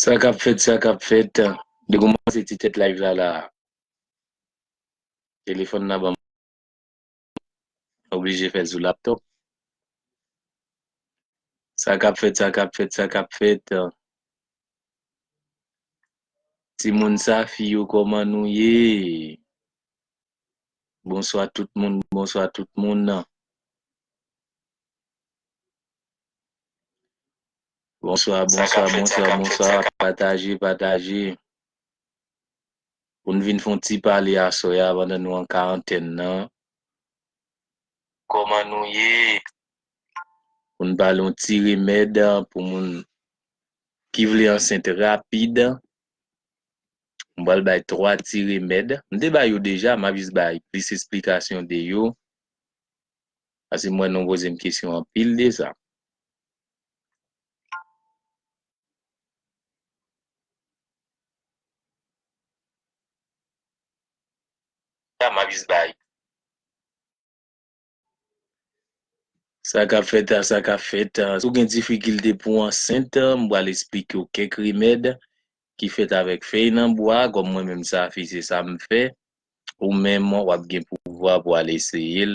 Sa kap fèt, sa kap fèt, li koumanse ti tèt live la la. Telefòn nan banm. oblije fèl sou laptop sa kap fèt sa kap fèt sa kap fèt ti moun sa fi yo koman nou ye bonswa tout moun bonswa tout moun nan bonswa bonswa bonswa bonswa pataje pataje pou n vin fè yon ti pale aswè a pandan nou an karantèn nan. Kòman nou ye? Pou n pale yon ti remèd pou moun ki vle ansent rapid. M pral bay 3 ti remèd. M te bay yo deja, m ap jis bay plis esplikasyon de yo. Pase m wè nou poze m kesyon anpil de sa. Sa ka fèt a sa ka fèt, si w gen difikilte pou w ansent, m pral esplike w kèk remèd ki fèt avèk fèy nan bwa, kòm mwen menm Safi se sa m fè, ou menm w ap gen pouvwa pou w al eseye l,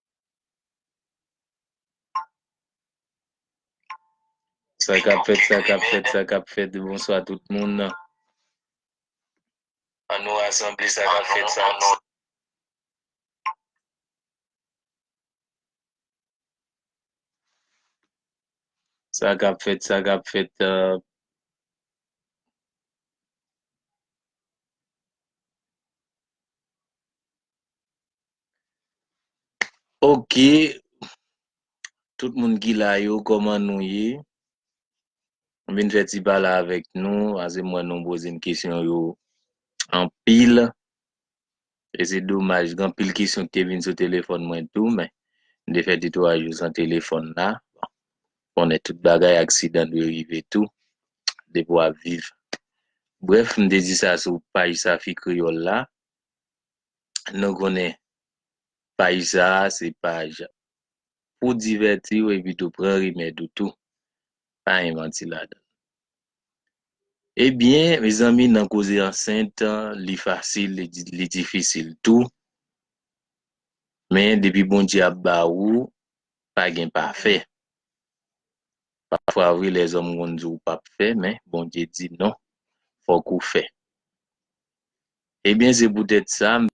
Sa kap fèt, sa kap fèt, sa kap fèt, bonswa tout moun. An nou asanble sa kap fèt sa non. Sa kap fèt, sa kap fèt. Euh, Ok, tout moun ki la yo kòman nou ye? M vin fè ti pale avèk nou, pase m wè nou poze m kesyon yo anpil, e se domaj gen anpil kesyon ki te vin sou telefòn mwen tou men m te fè de twa jou san telefòn la, bon konnen tout bagay aksidan dwe rive tou depi w ap viv. Brèf m te di sa sou paj Safi Kreyòl la, nou konnen paj sa a se paj pou divèti ou epi tou pran rimèd ou tou. Pa gen manti ladan l. Ebyen, mezanmi nan koze ansent, li fasil, li difisil tou. Men depi Bondye ap ba ou, pa gen pa fè. Pafwa wi lèzòm konn di w pap fè men Bondye di non, fòk ou fè. Ebyen se poutèt sa m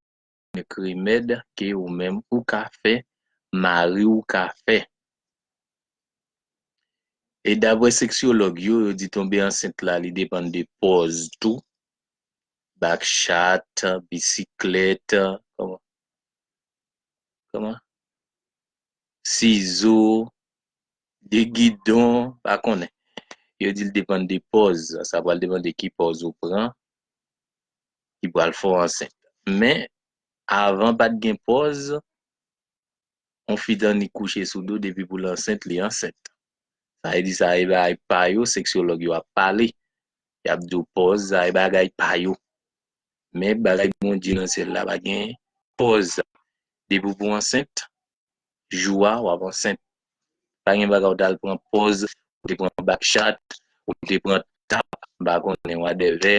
fè k remèd ke ou menm ou ka fè mari w ka fè. E daprè seksyològ yo, yo di tonbe ansent la li depann de pòz tou, back chat, bisiklèt, sizo, de gidon, pa konnen. Yo di l depann de pòz, sa pral depann de ki pòz ou pran ki pral fè w ansent. Men, avan pa t gen pòz, yon fi te annik kouche sou do depi pou l ansent, li ansent. Sa vle di sa e bagay pa yo, seksyològ yo ap pale, y ap di w pòz sa e bagay pa yo. Men, bagay Bondye nan syèl la pa gen pòz sa. Depi w pou ansent, jou a wap ansent pa gen bagay ou tal pran pòz ou te pran bak chat ou te pran tap mpa konnen wadèvè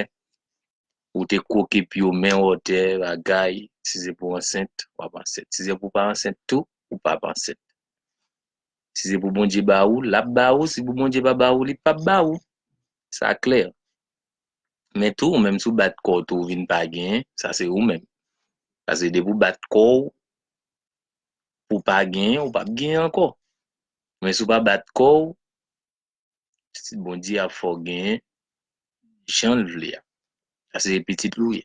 ou te kwoke pye w men w otè bagay si se pou ansent wap ansent si se pou pa ansent tou ou pap ansent si se pou Bondye ba ou lap ba ou si pou Bondye pa ba ou li pap ba ou sa klè men tou ou menm si w bat kò w tou ou vin pa gen sa se ou menm pase depi w bat kò w pou pa genyen ou pap genyen ankò men si w pa bat kò w Bondye ap fè w genyen jan l vle a paske se pitit li w ye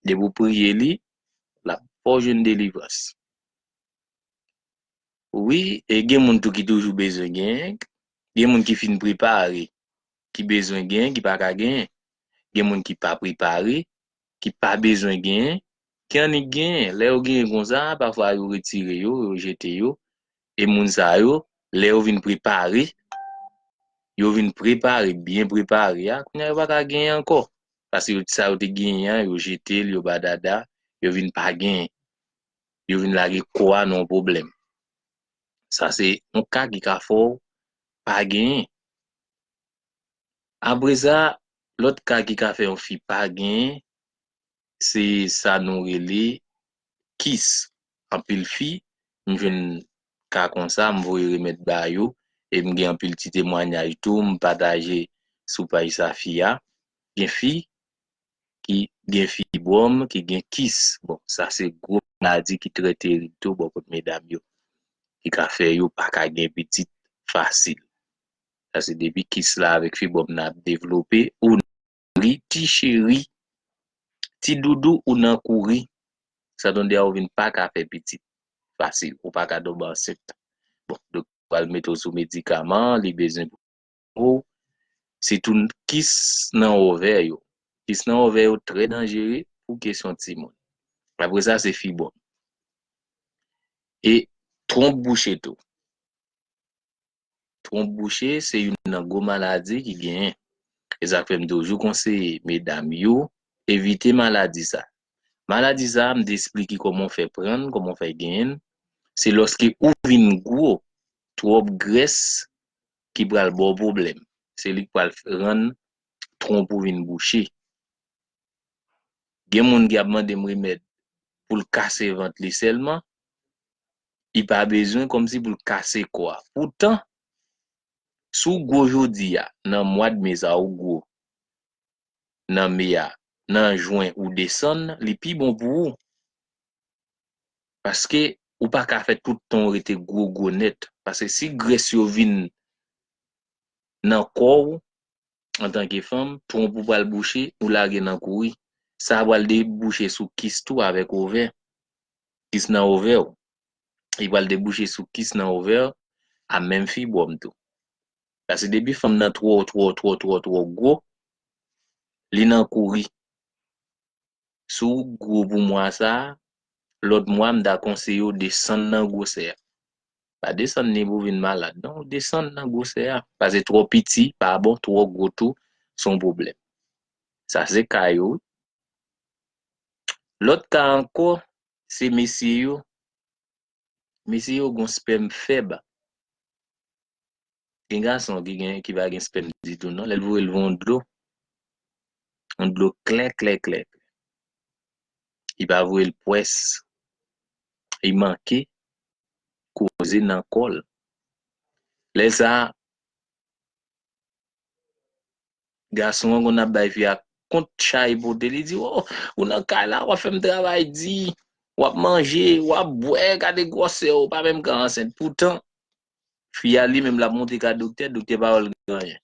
depi w priye li l ap fè w jwenn delivrans wi e gen moun tou ki toujou bezwen genyen gen moun ki fin prepare ki bezwen genyen ki pa ka genyen gen moun ki pa prepare ki pa bezwen genyen, ki annik genyen. Lè yo genyen konsa, pafwa yo retire yo, yo jete yo. E moun sa yo, lè yo vin prepare, yo vin prepare, byen prepare a, kounye a yo pa ka genyen ankò. Paske sa yo te genyen an, yo jete l, yo badada, yo vin pa genyen. Yo vin lage kò a nan yon pwoblèm. Sa se yon ka ki ka fè w pa genyen. Apresa lòt ka ki ka fè yon fi pa gen se sa nou rele kis anpil fi m jwenn ka konsa m voye remèd ba yo e m gen anpil ti temwanyaj tou m pataje sou paj Safia gen fi ki gen fibwòm ki gen kis bon sa se gwo maladi ki trè terib tou bò kot medam yo ki ka fè yo pa ka gen pitit fasil Sa se depi kis la avèk fibwòm nan ap devlope ou nan kouri ti cheri ti doudou ou nan kouri santonde a ou vin paka fè pitit fasil ou paka tonbe ansent bon doktè a pral mete w sou medikaman li bezwen pou ou sitou kis nan ovè yo kis nan ovè yo trè danjere pou kesyon timoun apre sa se fibwòm e twonp bouche tou. Twonp bouche se youn nan gwo maladi ki genyen. E sa k fè m toujou konseye medam yo evite maladi sa. Maladi sa m te esplike kòman w fè pran l, kòman w fè genyen l, se lòske ou vin gwo, twòp grès ki pral ba w pwoblèm. Se li k pral rann twonp ou vin bouche. Gen moun ki ap mande m remèd pou l kase vant li sèlman, li pa bezwen kòmsi pou l kase kò a. Poutan, si w gwo jodi a, nan mwad me sa ou gwo, nan me a, nan jwen ou desann, li pi bon pou ou. Paske, ou pa ka fè tout tan w rete gwo gwo nèt. Paske si grès yo vin nan kò ou, antanke fanm, twonp ou pral bouche, ou lage nan kouri. Sa pral debouche sou kis tou avèk ovè. Kis nan ovè ou. Li pral debouche sou kis nan ovè a menm fibwòm tou. Pase depi fanm nan twò twò twò twò twò gwo, li nan kouri. Si w gwo pou mwa sa, lòt mwa m ta konseye w desann nan gwosè a. Pa desann ni pou w vin malad non, ou desann nan gwosè a. Pase twò piti pa bon, twò gwo tou se yon pwoblèm. Sa se ka yo wi. Lòt ka ankò, se mesye yo, mesye yo gen yon spèm fèb. Gen gason ki gen, ki pa gen spèm ditou non, lè l voye l van yon dlo, yon dlo klè klè klè, li pa voye l pwès, li manke koze nan kò l. Lè sa a, Gason an konn ap bay fi a kont chay pote li di oh ou nan kay la wap fèm travay di wap manje wap bwè gade gwòsè ou pa menm ka ansent poutan fi a li menm lap monte ka doktè doktè pa wèl gen anyen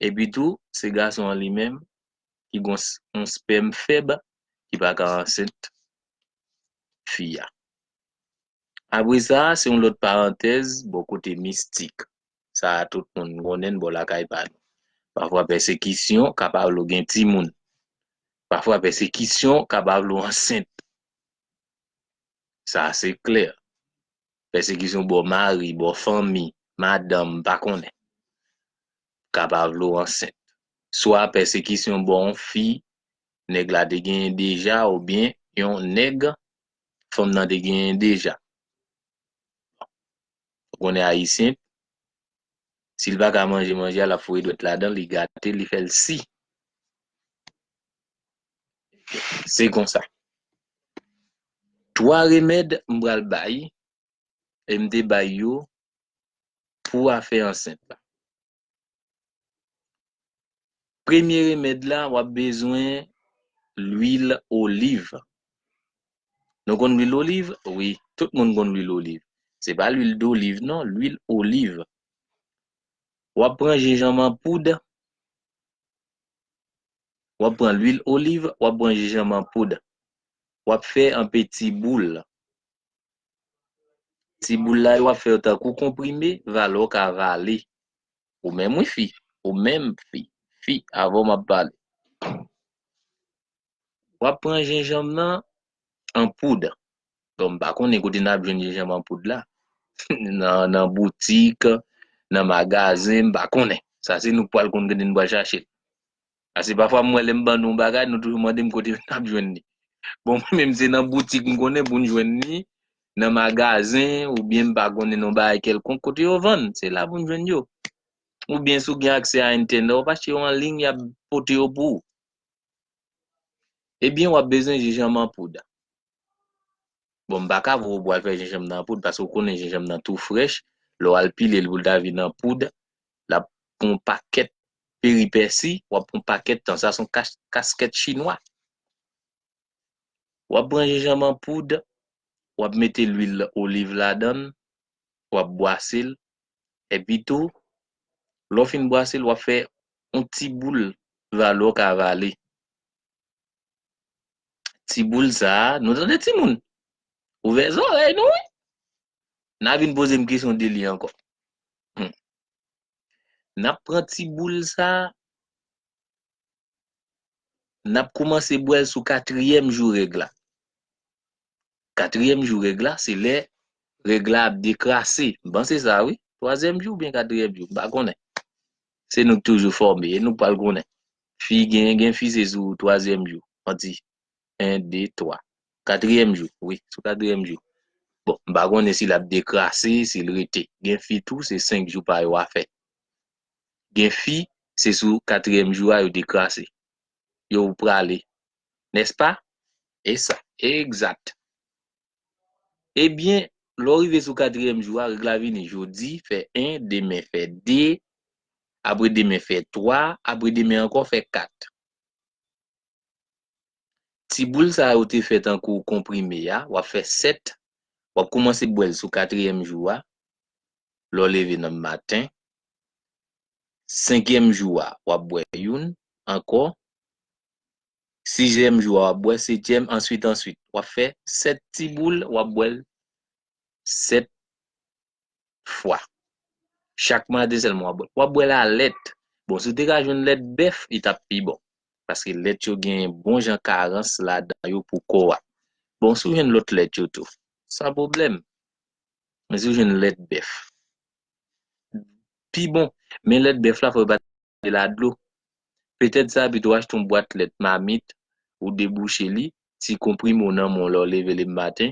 epi tou se gason an li menm ki gon yon spèm fèb ki pa ka ansent fi a apre sa se yon lòt parantèz bò kote mistik. sa a tout moun konnen l bò lakay pa nou. Pafwa pèsekisyon kapabl ou gen timoun. Pafwa pèsekisyon kapabl ou ansent. Sa a se klè. Pèsekisyon bò mari, bò fanmi, madanm, m pa konnen. Kapabl ou ansent. Swa pèsekisyon bò yon fi nèg la te genyen deja oubyen yon nèg fanm nan te genyen deja. Ou konnen ayisyen sil paka manje manje a lap foure dwèt ladanl li gratel li fèl si se konsa 3 remèd m pral bay em te bay yo pou afè ansent la. Premye remèd la wap bezwen lwil oliv. Nou konn lwil oliv wi, tout moun konn lwil oliv. Se pa lwil doliv non, lwil oliv. Wap pran jenjanm an poud, wap pran lwil oliv, wap pran jenjanm an poud. Wap fè an peti boul. Ti boul la yo ap fèw tankou konprime valè w ka vale ou menm wi fi ou menm fi fi avèw map pale wap pran jenjanm nan an poud bon m pa konnen kote nap jwenn jenjanm an poud la nan boutik nan magazen m pa konnen sa se nou k pwal konn kote nou pwal chache l Pase pafwa m wè lè m ban nou yon bagay nou toujou mande m kote n ap jwenn li. Bon mwen menm se nan boutik m konnen pou n jwenn li, nan magazen oubyen m pa konnen nan bagay kèlkonk kote yo vann, se la pou n jwenn yo. Oubyen si w gen aksè a entènè wap achte yo anliy y ap pote yo pou ou. Ebyen wap bezwen jenjanm an poud. Bon m pa ka voye w pou al fè jenjanm nan an poud paske w konnen jenjanm nan tou frèch, lè w al pile l pou l ta vin an poud l ap pran yon pakèt peripèsi, w ap pran yon pakèt tan, sa se yon kaskèt chinwa. W ap pran jenjanm an poud, w ap mete lwil oliv ladan l, w ap bwase l, epi tou lè w fin bwase l w ap fè yon ti boul valo w ka vale. Ti boul sa, nou tande timoun? Ouvè zòrèy nou wi! N a vin poze m kesyon de li ankò. Hum! N ap pran ti boul sa, n ap koumanse bwè l sou katriyèm jou règ la. Katriyèm jou règ la se lè règ la ap dekrase. M panse sa wi. Twazyèm jou oubyen katriyèm jou. M pa konnen. Se nou k toujou fòme. E nou k pral konnen. Fi gen gen fi se sou twazyèm jou. Manti. En, de, twa. Katriyèm jou. Wi. Sou katriyèm jou. Bon. M pa konnen si l ap dekrase, si l rete. Gen fi tou se senk jou pa yo a fè. Gen fi se sou katriyèm jou a yo dekrase. Yo prale. Nèspa? E sa. Egzat. Ebyen, lè w rive sou katriyèm jou a, règ la vini, jodi fè 1, demen fè 2, apre demen fè 3, apre demen ankò fè 4. Ti boul sa yo te fè tankou konprime a, w ap fè 7, w ap koumanse bwè l sou katriyèm jou a, lè w leve nan maten. Senkyèm jou a, w ap bwè youn ankò, Sizyèm jou a wap bwè setyèm answit answit wap fè 7 ti boul wap bwèl 7 fwa chak maten sèlman wap bwèl wap bwèl a lèt bon si w te ka jwenn lèt bèf li tap pi bon paske lèt yo gen bon jan karans ladan yo pou kò a bon si w jwenn lòt lèt yo tou san pwoblèm men si w jwenn lèt bèf pi bon men lèt bèf la fòk yo pa te la dlo Petèt zabit ou achte yon bwat lèt mamit, ou debouche li, ti konprime ou nan men w lè w leve le maten,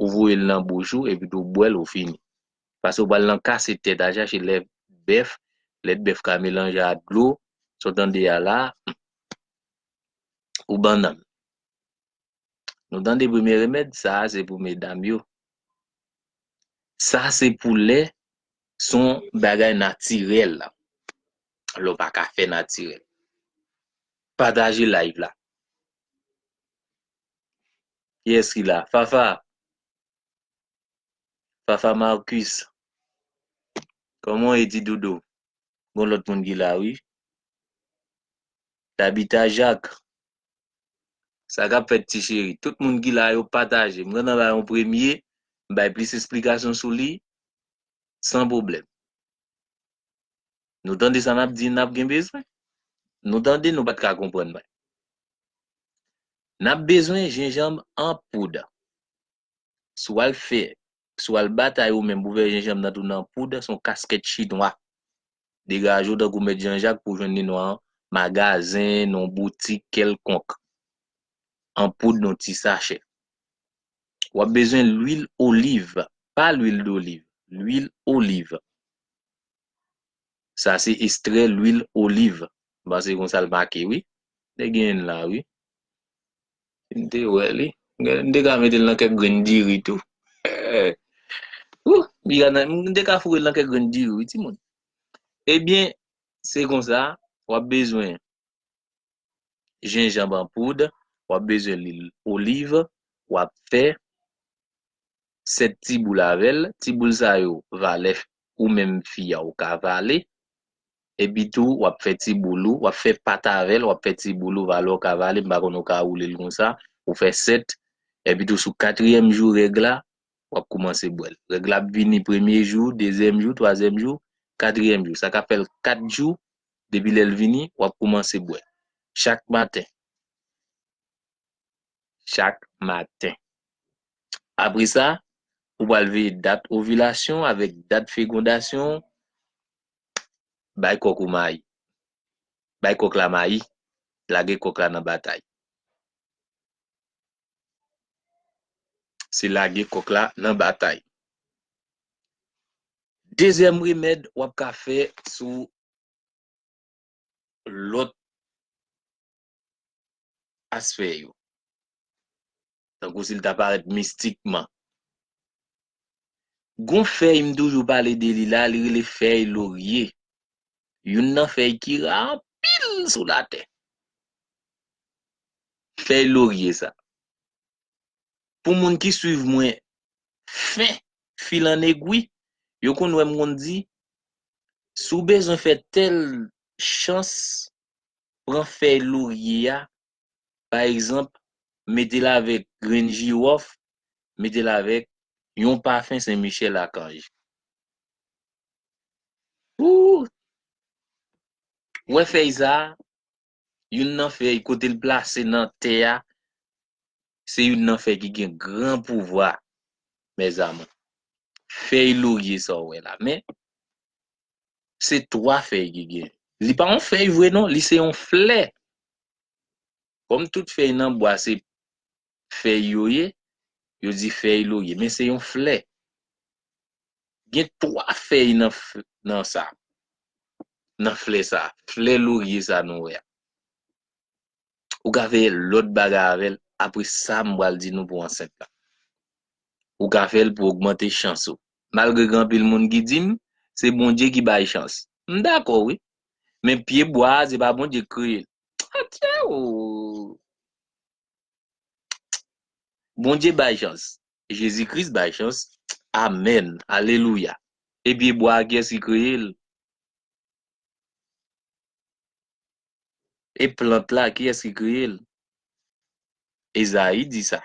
ou voye l nan bouch ou epi tou w bwè l ou fini. Pase ou pral nan kase tèt al chache lèt bèf, lèt bèf ka melanje a dlo, sa w tande a la a, humm. Ou bannann. Nou tande premye remèd, sa a se pou medam yo. Sa se pou lè son bagay natirèl la. Lè w pa ka fè natirèl. Pataje live la. Kiyès ki la? Fafa? Fafa Marcus? Kòman w ye ti doudou? Gon lòt moun ki la wi. Tabita Jacques? Sa kap fèt ti cheri? Tout moun ki la yo pataje. M gentan bay yon premye, m bay plis esplikasyon sou li san pwoblèm. Nou tande sa nap di nap gen bezwen? Nou tande nou pat ka konprann mwen. Nap bezwen jenjanb an poud. Si w al fè, si w al batay ou menm pou w fè jenjanm nan tounen an poud, se yon kaskèt chinwa. Degaje w tankou mèt Janjak pou w jwenn li nan yon magazen, nan yon boutik kèlkonk, an poud nan yon ti sachè. W ap bezwen lwil oliv, pa lwil doliv, lwil oliv. Sa se estrè lwil oliv, m panse se konsa l make wi. Dè gen youn la wi. M te wè li. M te ka mete l nan kèk grenn diri tou. Ooh! M te ka foure l nan kèk grenn diri wi timoun. Ebyen, se konsa, w ap bezwen jenjanb an poud, w ap bezwen lwil oliv, w ap fè 7 ti boul avè l. Ti boul sa yo, valè ou menm fi a ou ka vale. Epitou wap fè ti boul ou, wap fè pat avèl, wap fè ti boul ou valè ou ka vale, m pa konn ou ka woulel konsa, ou fè 7, epitou sou katriyèm jou règ la, wap koumanse bwèl. Règ la ap vini premye jou, dezyèm jou, twazyèm jou, katriyèm jou. Sa ka fèl 4 jou, depi lèl vini, wap koumanse bwè. Chak maten. Chak maten. Apresa, ou pral veye dat ovilasyon avèk dat fegondasyon ou. Bay kòk ou mayi. Bay kòk la mayi, lage kòk la nan batay. Se lage kòk la nan batay. Dezyèm remèd w ap ka fè sou lòt asfè yo, tankou si l ta parèt mistikman. Gon fèy m toujou pale de li la, li rele fèy lorye, youn nan fèy ki ra anpil sou latè. Fèy lorye sa, pou moun ki swiv mwen fen fil an egwi, yo konn wè m konn di, si w bezwen fè tèl chans pran fèy lorye a pa egzanp mete l avèk grenn jiwòf, mete l avèk yon pafen sen michèl akanj pou w wè fèy sa a, youn nan fèy kote l plase nan tè a se youn nan fèy ki gen gran pouvwa mèzamou fèy lorye sa w wè la men Se 3 fèy ki gen. Li pa yon fèy vre non, li se yon flè. Kòm tout fèy nan bwa se fèy yo ye, yo di fèy lorye. Men se yon flè. Gen 3 fèy nan nan sa. Nan flè sa. Flè lorye sa nou wè a. ou ka fè lòt bagay avè l apre sa m pral di nou pou ansent la. Ou ka fè l pou ogmante chans ou. Malgre gen anpil moun ki di m, se Bondye ki bay chans. M dakò wi. Men pye bwa a se pa Bondye ki kreye l. Atyèeeoo! Bondye bay chans. Jezi Kris bay chans. Amèn! Alelouya! E pye bwa a kiyès ki kreye l? E plant la, kiyès ki kreye l? Ezayi di sa.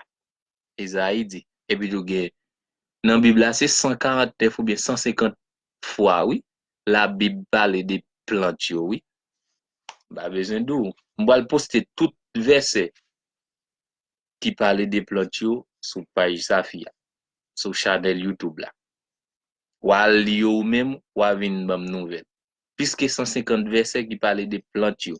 Ezayi di. Epitou gen, nan Bib la, se 149 oubyen 150 fwa, wi, Labib pale de plant yo, wi. M pa bezwen di w. M pral poste tout vèsè ki pale de plant yo sou paj Safi a, sou chanèl Youtube la. W a al li yo ou menm, w a vin ban m nouvèl. plis ke 150 vèsè ki pale de plant yo.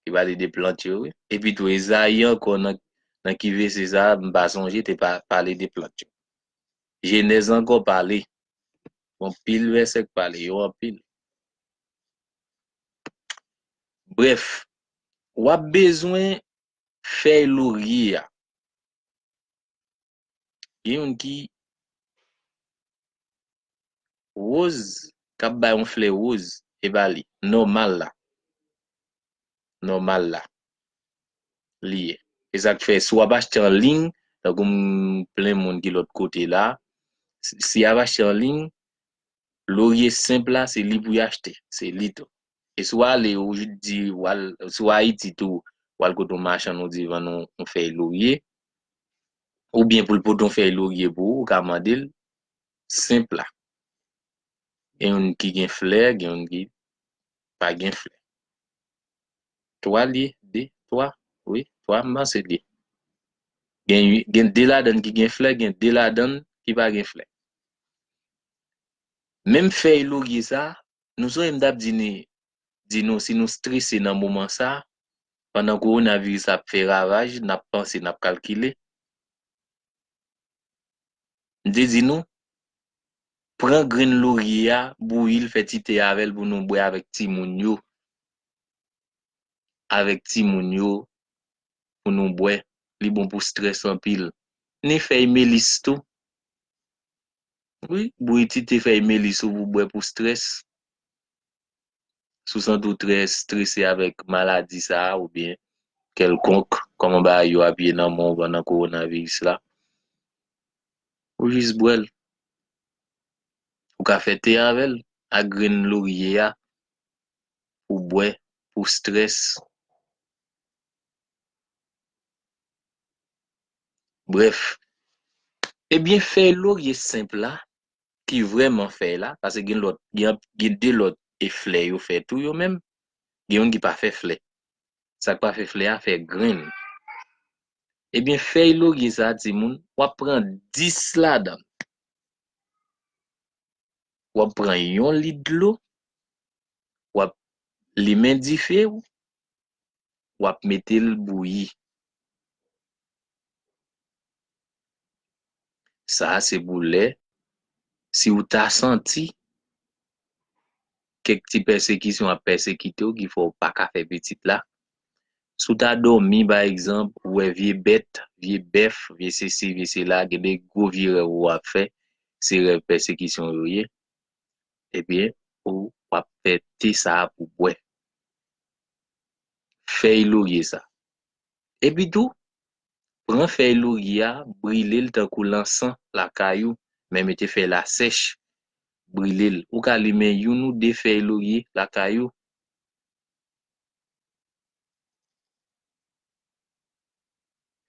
Ki pale de plant yo wi. Epitou Ezayi ankò nan nan ki vese sa a m pa sonje te pa pale de plant yo. Jenèz ankò pale. Gon pil vèsè k pale yo anpil. Brèf, w ap bezwen fèy lorye a. Gen youn ki Woz kap bay yon flè woz e pa li nòmal la nòmal la li ye e sak fè si wap achte an liy tankou m plen moun ki lòt kote la si yap achte an liy lorye senp la se li pou y achte se li tou e si w ale ou di wal si w ayiti tou wal kote yon machann ou di vann yon fèy lorye ou byen pou l pote yon fèy lorye pou ou, ou ka mande l, senp la. Gen youn ki gen flè, gen youn ki pa gen flè. Twa l ye, de, twa, wi, twa, m panse l ye. Gen ui, gen de ladan l ki gen flè, gen de ladan l ki pa gen flè. Menm fèy lorye sa, nou sonje m t ap di ni di nou si nou strese nan moman sa, pandan kowonaviris la ap fè ravaj, n ap panse, n ap kalkile. M te di nou, pran grenn lorye a, bouyi l, fè ti te avè l pou nou bwè avèk timoun yo, avèk timoun yo pou nou bwè, li bon pou strès anpil. Ni fèy melis tou, wi, bouyi ti te fèy melis ou pou bwè pou strès. Si w santi w trè strese avèk maladi sa a oubyen kèlkonk, kòman bagay yo ap ye nan mond pandan kowonaviris la, ou jis bwè l. Ou ka fè te avè l ak grenn lorye a pou w bwè pou strès. Brèf, ebyen fèy lorye senp la ki vrèman fèy la paske gen lòt gen de lòt e flè yo fè tou yo menm gen youn ki pa fè flè sak pa fè flè a fè grenn ebyen fèy lorye sa timoun wap pran 10 ladann wap pran yon lit dlo wap limen dife ou wap metel bouyi sa se pou lè si ou ta santi kèk ti pèsekisyon ap pèsekitew ki fè ou paka fè pitit la si ou ta dòmi pa egzanp ou wè vye bèt vye bèf vye sesi vye sela gen de gwo vye rèv ou ap fè se rèv pèsekisyon yo ye ebyen ou wap fè te sa pou bwè fèy lorye sa. Epi tou, pran fèy lorye a, brile l tankou lansan lakay ou, men mete fèy la sèch, brile l. Ou ka limen youn ou de fèy lorye lakay ou.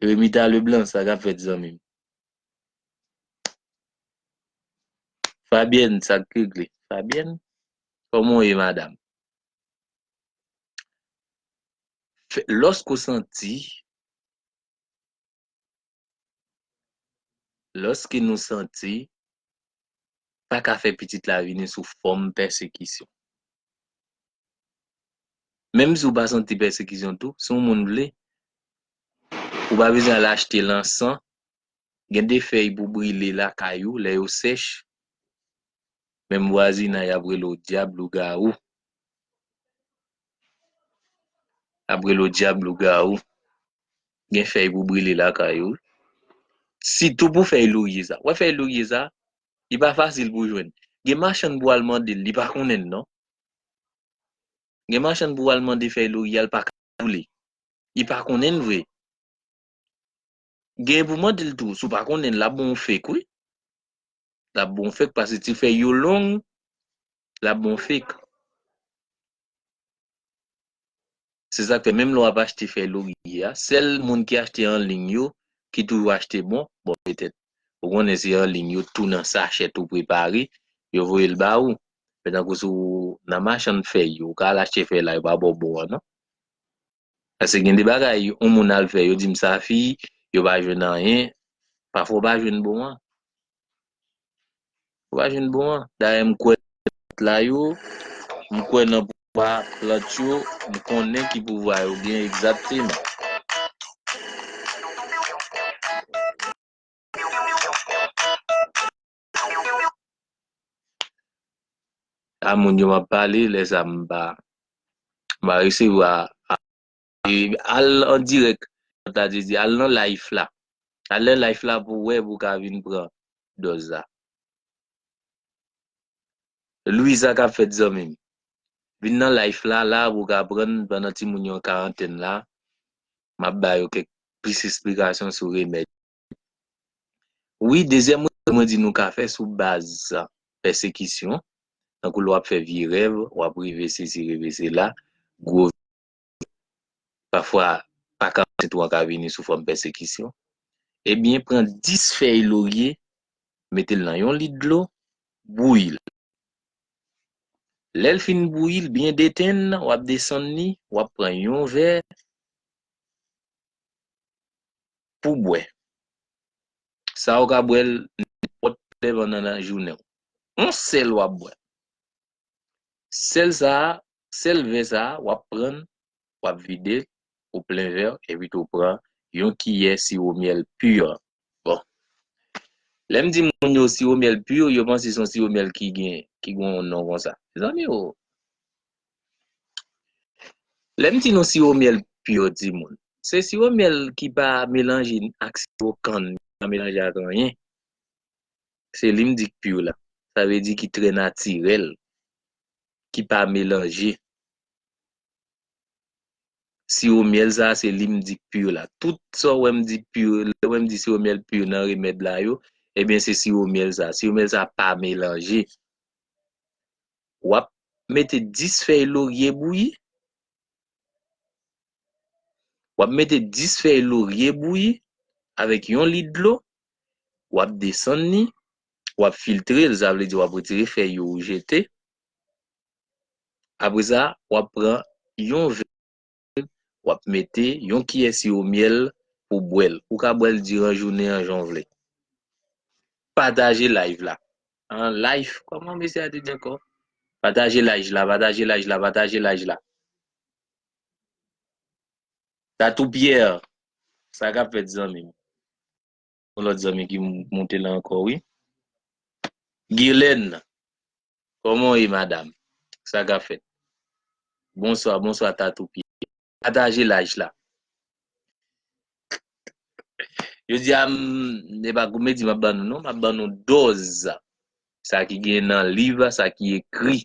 Remita Leblanc, sa k ap fèt zanmi m? Fabyèn, sa k regle? Fabyèn, kòman w ye madam? Lòske w santi, lòske nou santi, pa ka fè Pitit la vini sou fòm pèsekisyon. Menm si w pa santi pèsekisyon tou, si yon moun vle, ou pa bezwen al achte lansan Gen de fèy pou brile lakay ou lè yo sèch. Menm vwazinay ap rele w dyab lougawou. Ap rele w dyab lougawou. Gen fèy pou brile lakay ou. Sitou pou fèy lorye sa. Wè fèy lorye sa, li pa fasil pou jwenn. Gen machann pou al mande l, li pa konnen l non. Gen machann pou al mande fèy lorye a, li pa ka brile. Li pa konnen l vre. Genyen pou mandil tou si w pa konnen lap bon w fek wi lap bon w fek pase ti fèy yo long lap bon w fek se sak fè menm lè wap achte fèy lorye a sèl moun ki achte an liy yo ki toujou achte bon bon petèt ou konnen se an liy yo tou nan sachè tou prepare yo voye l ba ou men tankou sou nan machann fèy yo ou ka al achte fèy la yo pa ba w bon an non. Paske gen de bagay yon moun al fè yo dim sa fi yo pa jwenn anyen pafwa ou pa jwenn bon an ou pa jwenn bon an dayè m kwè nan plant la yo m kwè nan pouvwa plant yo m konnen ki pouvwa yo gen egzakteman. A moun yo map pale lè sa m pa mpa resevwa a al an dirèk kòm ta di al nan life la al nan life la pou wè pou ka vin pran dòz la Louis sa kap fèt zanmi m vin nan life la la pou ka aprann pandan timoun yo an karantèn la map ba yo kèk plis esplikasyon sou remèd. Wi, dezyèm rezon mwen di nou ka fè sou baz pèsekisyon, tankou lè w ap fè vye rèv, w ap reve sesi, reve sela, gwo vye, pafwa pa ka ansent ou an ka vini sou fòm pèsekisyon, ebyen pran 10 fèy lorye, mete l nan yon lit dlo, bouyi l. Lè l fin bouyi, l byen detenn, w ap desann li, w ap pran yon vè, pou bwè. Sa ou ka bwè l nenpòt lè pandan lajounen w. On sèl w ap bwè. Sèl sa, sèl vè sa w ap pran l, w ap vide l, ou plen vè w epi tou pran yon kiyè siwo myèl pur. Bon. Lè m di moun yo siwo myèl pur, yo panse se yon siwo myèl ki gen, ki gen yon non konsa. Mezanmi o! Lè m di nou siwo myèl pure di moun, se siwo myèl ki pa melanje ak siwo kann, ki pa melanje ak anyen. Se li m di k pure la. Sa vle di ki trè natirèl, ki pa melanje. Siwo myèl sa se li m di k pure la. Tout sa w wè m di pure, lè w wè m di siwo myèl pure nan remèd la yo, ebyen se siwo myèl sa. Siwo myèl sa pa melanje. Wap mete 10 fèy lorye bouyi. Wap mete 10 fèy lorye bouyi avèk yon lit dlo, wap desann li, wap filtrel sa vle di wap retire fèy yo ou jete. Apre sa wap pran yon vè. wap mete yon kiyè siwo myèl pou bwèl ou ka bwèl diran jounen an jan w vle pataje live la an life kòman mesye a te di ankò pataje life la pataje life la pataje life la Tatou Pierre sa kap fèt zanmi m. Yon lòt zanmi ki moute la ankò wi. Guirlène, kòman w ye madam? Sa kap fèt? Bonswa, bonswa Tatou Pierre. Pataje laj la. Jodi a m, e pa komedi m ap ban nou non, m ap ban nou dòz sa ki gen nan liv, sa ki ekri,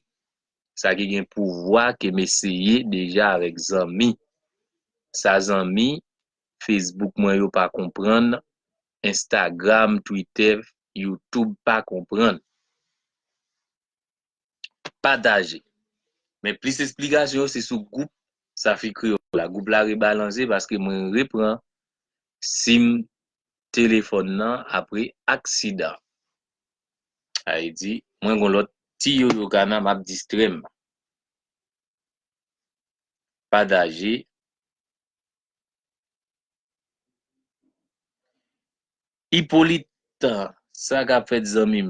sa ki gen pouvwa ke m eseye deja avèk zanmi. Sa zanmi Facebook mwen yo pa konprann Instagram Twitter YouTube pa konprann Pataje Men plis esplikasyon yo se sou gwoup Safi Kreyòl la Gwoup la rebalanze paske mwen repran sim telefòn nan apre aksidan Ayy di mwen gon lòt Ti yoyo kana map distrèm Pataje. Hyppolite sa kap fèt zanmim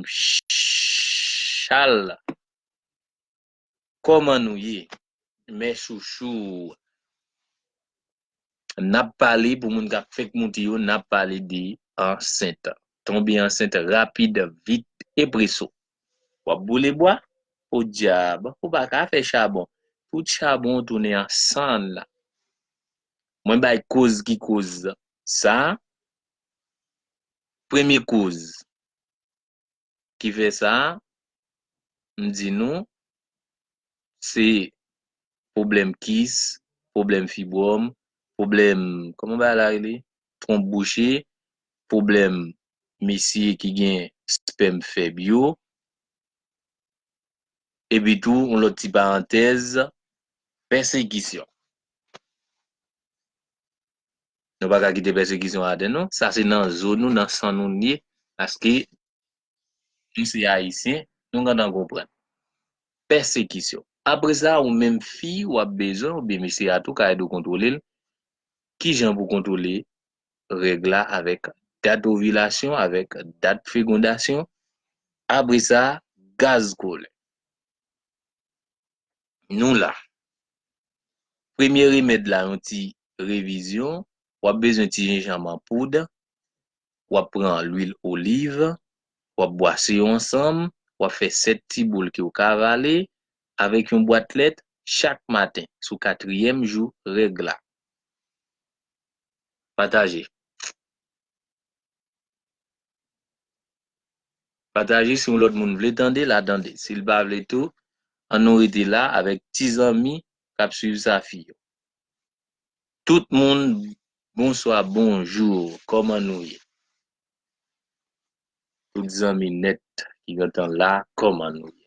Charles kòman nou ye mes chouchous nap pale pou moun kap fèk moute yo nap pale de ansent tonbe ansent rapid vit e preso. Wap boule bwa? Podyab, ou pa ka fè chabon. Tout chabon w tounen an sann la. Mwen bay koz ki koz sa. Premye koz ki fè sa, m di nou, se pwoblèm kis, pwoblèm fibwòm, pwoblèm, kòman bagay la rele? Twonp bouche, pwoblèm mesye ki gen spèm fèb yo. Epitou, yon lòt ti parantèz, pèsekisyon. Nou pa ka kite pèsekisyon atè nou. Sa se nan zo nou, nan san nou li ye paske nou se Ayisyen, nou gentan konprann. Pèsekisyon. Apre sa, ou menm fi, w ap bezwen, oubyen mesye a tou ka ede w kontwole l. Ki jan pou w kontwole règ la avèk dat ovilasyon avèk dat fegondasyon apre sa gaz kolè nou la premye remèd la yon ti revizyon wap bezwen ti jenjanm an poud wap pran lwil oliv wap bwase yo ansanm wap fè 7 ti boul ke ou ka avale avèk yon bwat lèt chak maten sou katriyèm jou règ la. Pataje Pataje si yon lòt moun vle tande l a tande si l pa vle tou an nou rete la avèk ti zanmi k ap swiv sa fi yo Tout moun bonswa bonjou kòman nou ye Tout zanmi nèt ki gentan la kòman nou ye.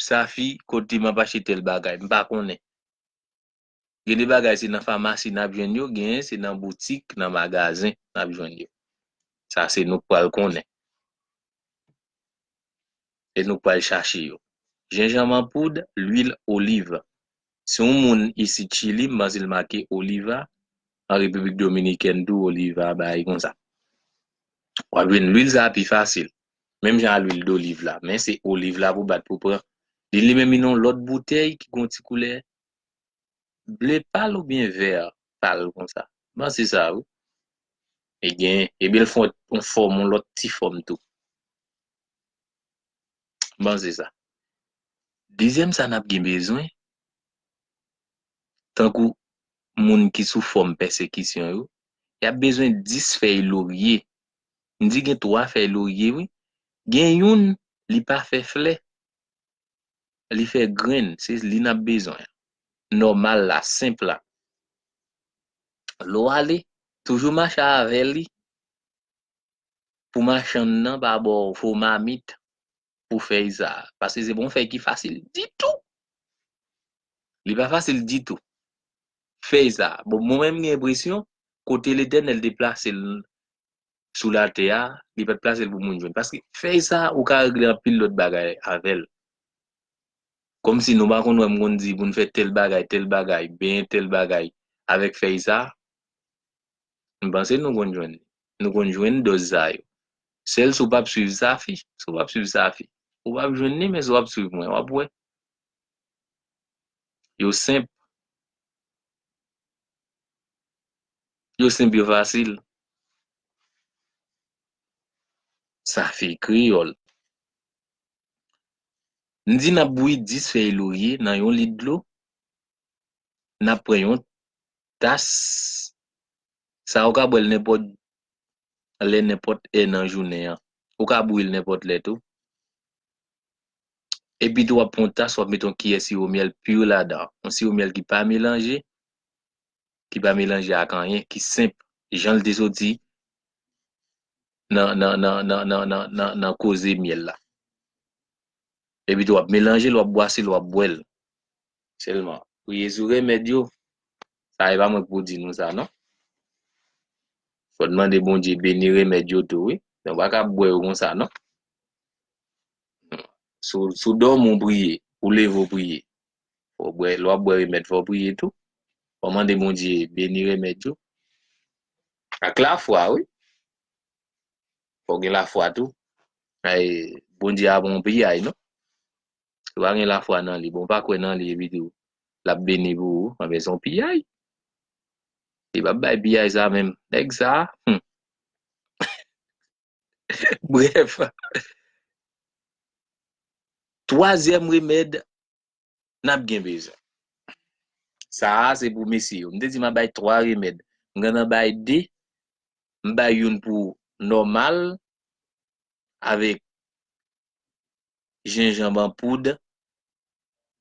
Safi kote map achte tel bagay m pa konnen gen de bagay se nan famasi nap jwenn yo genyen se nan boutik nan magazen nap jwenn yo sa se nou k pral konnen e nou k pral chache yo jenjanm an poud lwil oliv si yon moun isit chili m panse l make oliva an repiblik dominikèn tou oliva bagay konsa wap jwenn lwil sa pi fasil menm jan a lwil doliv la, men se oliv la pou bat pou pran li li menm yon lòt boutèy ki gen yon ti koulè ble pal oubyen vè pal konsa, m panse sa wi e gen ebyen l fè yon fòm yon lòt ti fòm tou m panse sa dezyèm sa n ap gen bezwen tankou moun ki sou fòm pèsekisyon yo y ap bezwen 10 fèy lorye M di gen 3 fèy lorye wi gen youn li pa fè flè li fè grenn se li nap bezwen an nòmal la senp la lèw ale toujou mache avè li pou machann nan pa baw fo mamit pou fèy sa a, paske se pa yon fèy ki fasil ditou! Li pa fasil ditou, fèy sa a. Bon, mwen menm m gen enpresyon, kote Letènèl te plase l sou latè a, li pa t plase l pou moun jwenn. Paske fèy sa a, ou ka regle anpil lòt bagay avè l. Kòmsi nou pa konn wè m konn di pou n fè tèl bagay, tèl bagay, benyen tèl bagay avèk fèy sa a? M panse nou konn jwenn li. Nou konn jwenn dòz sa yo. Sèl si w pap swiv Safi. Si w pap swiv Safi. Ou pap jwenn li men si w ap swiv mwen w ap wè. Yo senp. Yo senp yo fasil. Safi kreyòl. M di n ap bouyi 10 fèy lorye nan yon lit dlo. N ap pran yon. Tas sa ou ka bwè l nenpòt lè nenpòt è nan jounen an. Ou ka bouyi l nenpòt lè tou. Epi tou w ap pran yon tas w ap mete yon kiyè siwo myèl pur ladan. Yon siwo myèl ki pa melanje, ki pa melanje ak anyen, ki senp jan l te soti nan nan nan nan nan nan nan koze myèl la. Epi tou wap melanjel wap bwasel wap bwèl sèlman. Priye sou remèd yo. Sa epa mwen ki pou di nou sa non. Fòn mande Bondye beni remèd yo tou wi. Ou paka ap bwè yo konsa non. Si w dòmi w priye, ou leve w priye. Lè wap bwè remèd fò w priye tou. Fò mande Bondye beni remèd yo. Ak lafwa wi. Fòw gen lafwa tou. Ay Bondye a bon piyay non. Si w pa gen lafwa nan li, bon w pa kwè nan li epi tou lap beni pou ou, anben se yon piyay. Li pap bay piyay sa menm. Nèg sa humm. Brèf, twazyèm remèd nap gen bezwen. Sa a se pou mesye yo. M te di ma bay 3 remèd. M gentan bay 2. M bay youn pou nòmal avèk jenjanb an poud,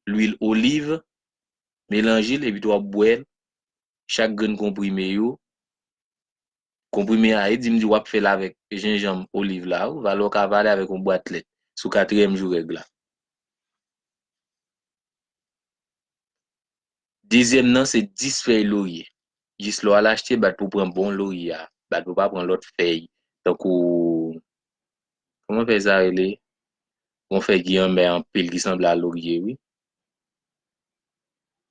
lwil oliv, melanje l epi tou wap bwè l chak grenn konprime yo Konprime a, e di m di w ap fè l avèk jenjanm, oliv la ou, valè w ka avale avèk yon bwat lèt, sou katriyèm jou règ la. Dezyèm nan se 10 fèy lorye. Jis lè w al achte, bat pou w pran bon lorye a, bat pou w pa pran lòt fèy, tankou, kòman fèy sa rele? Yon fèy ki anmè anpil ki sanble a lorye wi.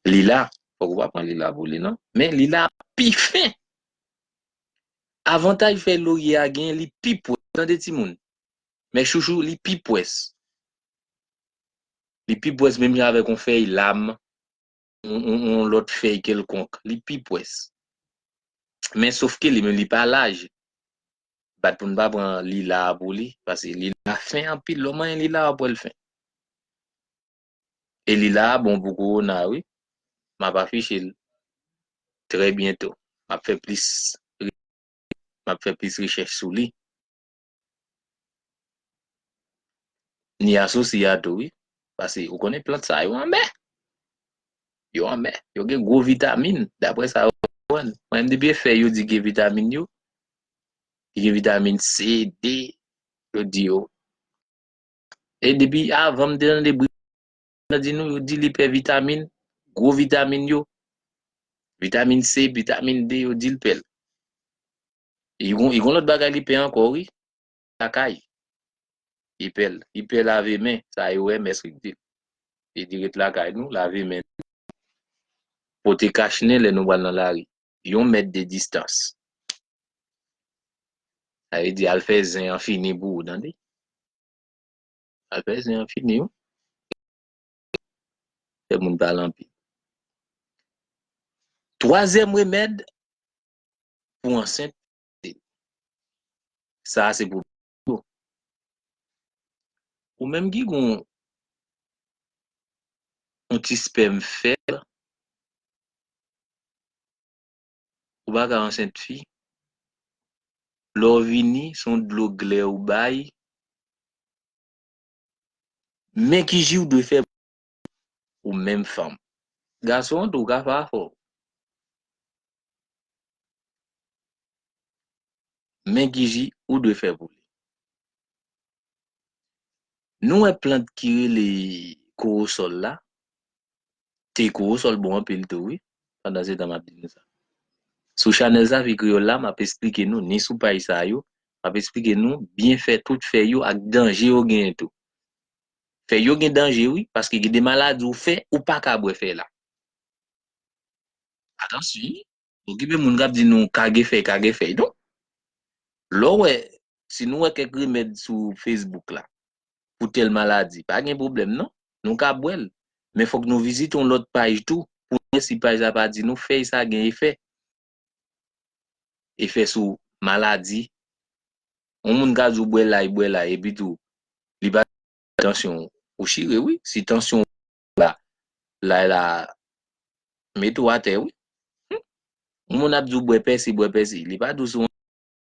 Lila, fòk ou pa pran lila pou li non, men lila a pi fen! Avantaj fèy lorye a gen li pi pwès ou tande timoun mes chouchous li pi pwès li pi pwès menm jan avèk yon fèy lam ou yon lòt fèy kelkonk li pi pwès men sof ke li menm li pa laj bat pou nou pa pran lila a pou li paske lila a fen anpil lè w manyen lila a wap wè l fen. E li la bon pou kowona wi. M ap afiche l trè byento. M ap fè plis m ap fè plis rechèch sou li. Ni asosi a tou wi. Pase ou konnen plant sa yo anmè. Yo anmè. Yo gen gwo vitamin daprè sa yo aprann. Mwen menm depi e fèy yo di gen vitamin yo. Ki gen vitamin C, D. Yo di yo. E depi avan m te tande bri nan di nou yo di li pè vitamin, gwo vitamin yo. Vitamin C, vitamin D yo di l pè l. E gon e gon lòt bagay li pè ankò wi, lakay. Li pè l, li pè lave men, sa e OMS ki di l. Li di ret lakay nou, lave men nou. Pote kachnen lè nou pral nan lari. yon mèt de distans. Sa vle di al fè zen an fini pou ou tande. Al fè zen an fini ou. Fè moun pale anpil. Twazyèm remèd pou ansent, sa se pou Bon. Ou menm ki gon yon ti spèm fèb, ou pa ka ansent fi. Lè w vini, se yon dlo glè ou bay. Men ki ji ou dwe fè ou menm fanm. Gason an tou ka pa fò. Men ki ji ou dwe fè pou li. Nou wè plant ki rele kowosòl la, te kowosòl bon anpil tou wi, pandansetan m ap di nou sa. Sou chanèl Zafi Kreyòl la, m ap esplike nou, ni sou paj sa yo, m ap esplike nou byenfè tout fèy yo ak danje yo genyen tou. Fèy yo gen danje wi paske gen de maladi ou fè ou paka bwè fèy la. Atansyon bon gen de moun kap di nou kage fèy kage fèy non. Lè w wè si nou wè kèk remèd sou Facebook la pou tèl maladi pa gen pwoblèm non nou ka bwè l men fòk nou vizite yon lòt paj tou pou nou wè si paj la pa di nou fèy sa gen efè. efè sou maladi, yon moun ka di w bwè lay bwè lay epi tou li pa di tansyon w, ou chire wi, si tansyon w ou la lay la mete w atè wi, yon moun ap di w bwè pèsi bwè pèsi li pa di w si w.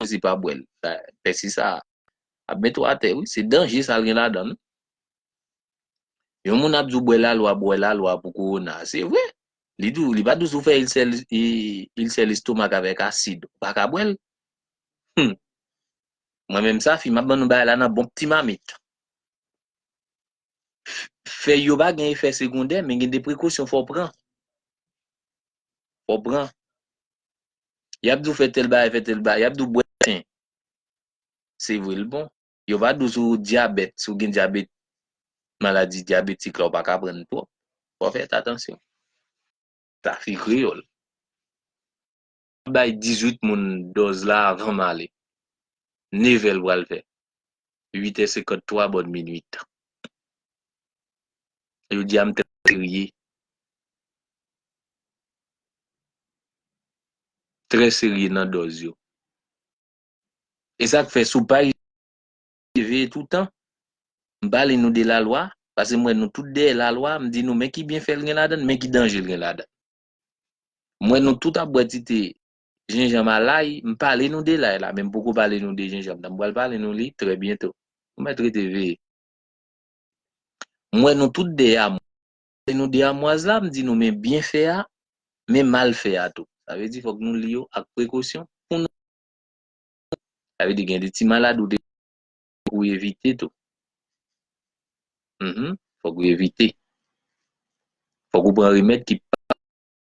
Rosie pa bwèl pèsi sa ap met ou atè wi se danje sal gen ladan wi yon moun ap diw bwè lalwa bwè lalwa pou korona se vre li diw li pa diw sou fè ilsè ilsè lestomak avèk asid ou pa ka bwèl humm mwen menm safi map ban nou bagay la nan bon pti mamit. fèy yo pa gen efè segondè men gen de prekosyon fò w pran. Fò w pran. Y ap di w fè tèl bagay, fè tèl bagay. Y ap di w bwè ten. Se vre l bon. Yo va di w si w dyabèt, si w gen dyabèt, maladi dyabetik la ou pa ka pran l twòp. Fò w fèt atansyon. Sa se kreyòl. Bay 18 moun dòz la avan m ale. Nevè l pral fè. Uitè senkant twa bòn minuit. Jodi a m trè serye. Trè serye nan dòz yo. E sa k fè si w pa rive veye toutan. M pale nou de lalwa. Pase m wè nou tout dèyè lalwa. M di nou men ki byenfè l gen ladan l, men ki danje l gen ladan l. M wè nou tout ap bwè ti te jenjanm a lay, m pale nou de lay la, men m poko pale nou de jenjanm nan, m pral pale nou li trè byento. Nou mèt rete veye. M wè nou tout de amwaz, m pale nou de amwaz la, m di nou men byenfè a, men malfè a tou. Sa vle di fòk nou li yo ak prekosyon pou nou. Sa vle di gen de ti maladi ou te. Fòk ou evite tou. Mph fòk ou evite. Fòk ou pran remèd ki pa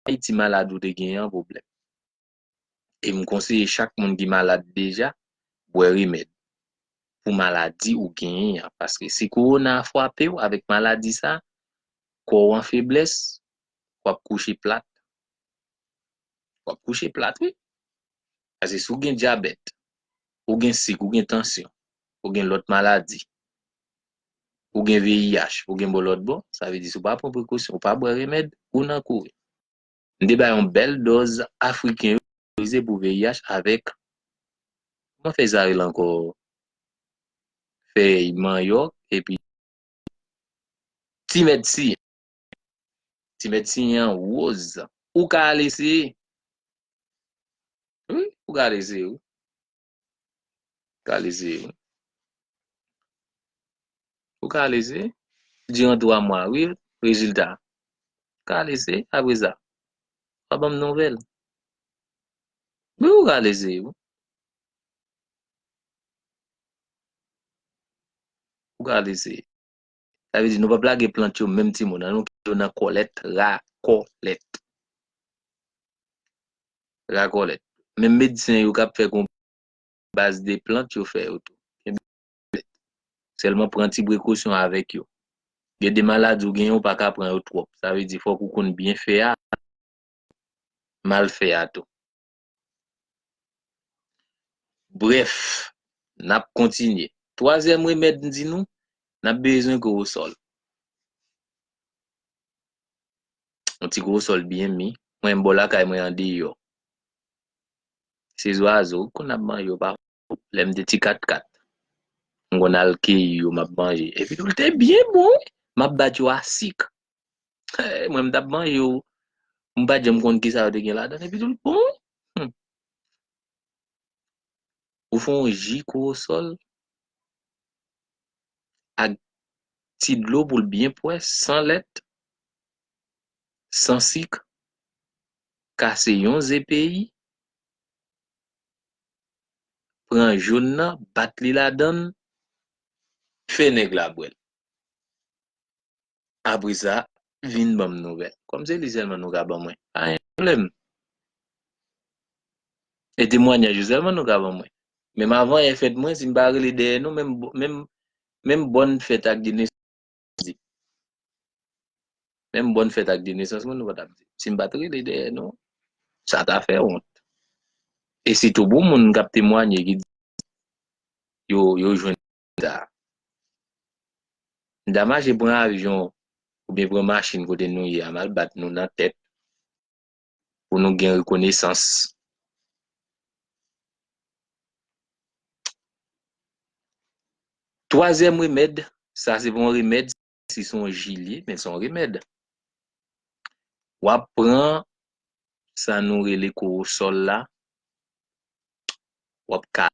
bay ti malad ou te genyen an pwoblèm. E m konseye chak moun ki malad deja bwè remèd pou maladi ou genyen an paske si kowona a fwape w avèk maladi sa a, kò w an feblès, w ap kouche plat. W ap kouche plat wi. Pase si w gen dyabèt, ou gen sik, ou gen tansyon, ou gen lòt maladi, ou gen VIH, ou gen bò lòt bò, sa vle di si w pa pran prekosyon, ou pa bwè remèd, ou nan kouri. M te bay yon bèl dòz Afriken yo favorize pou VIH avèk, kòman fèy sa rele ankò? Fèy manyòk epi timèd si. Ti medsen an woz. Ou ka al eseye. Wi, ou ka al eseye wi. Ou ka al eseye wi. Ou ka al eseye. Diran 3 mwa wi, rezilta. Ou ka al eseye apre sa. Ou a banm nouvèl. Wi, ou ka al eseye wi. Ou ka al eseye. Sa vle di nou pap lage plant yo menm timoun an nou kite yo nan kòlèt, ra kò lèt. Ra kò lèt. Menm medsen yo kap fè gon baz de plant yo fè yo tou. Kenbe yo lèt. Sèlman pran ti prekosyon avèk yo. Gen de maladi ou genyen ou pa ka pran yo twòp. Sa vle di fòk ou konn byen fè a, mal fè a tou. Brèf, n ap kontinye. Twazyèm remèd m di nou, n ap bezwen korosòl. Yon ti korosòl byen mi. Mwen bò lakay mwen andeyò. Se zwazo, konn ap manje yo pafwa. Lè m te ti katkat, m konn al keyi yo m ap manje. Epi tou l te byen bon wi! M ap bat yo a sik. Hey, mwen m t ap manje yo, m pa t janm konn kisa yo te gen ladan l. Epi tou l bon wi! Hum! Ou fè yon ji kowosòl ak ti dlo pou l byen pwès, san lèt, san sik, kase yon ze peyi, pran joun nan bat li ladann fè nèg la bwèl apresa vin banm nouvèl kòm se li sèlman nou ka ban mwen pa gen pwoblèm e temwanyaj ou sèlman nou ka ban mwen menm avan yè fèt mwen si m pa rele dèyè nou menm menm bòn fèt ak di nesans. di. Menm bòn fèt ak de nesans mwen nou pa t ap di. Si m pa t rele dèyè nou, sa ta fè wont. E sitou pou moun k ap temwanye ki di yo jwenn sa. M ta mache pran avyon oubyen pran machin kote nou ye a, m al bat nou nan tèt. pou nou gen rekonesans. Twazyèm remèd, sa se pa yon remèd, se yon ji li ye, men se yon remèd. W ap pran sa nou rele kowosòl la, w ap ka.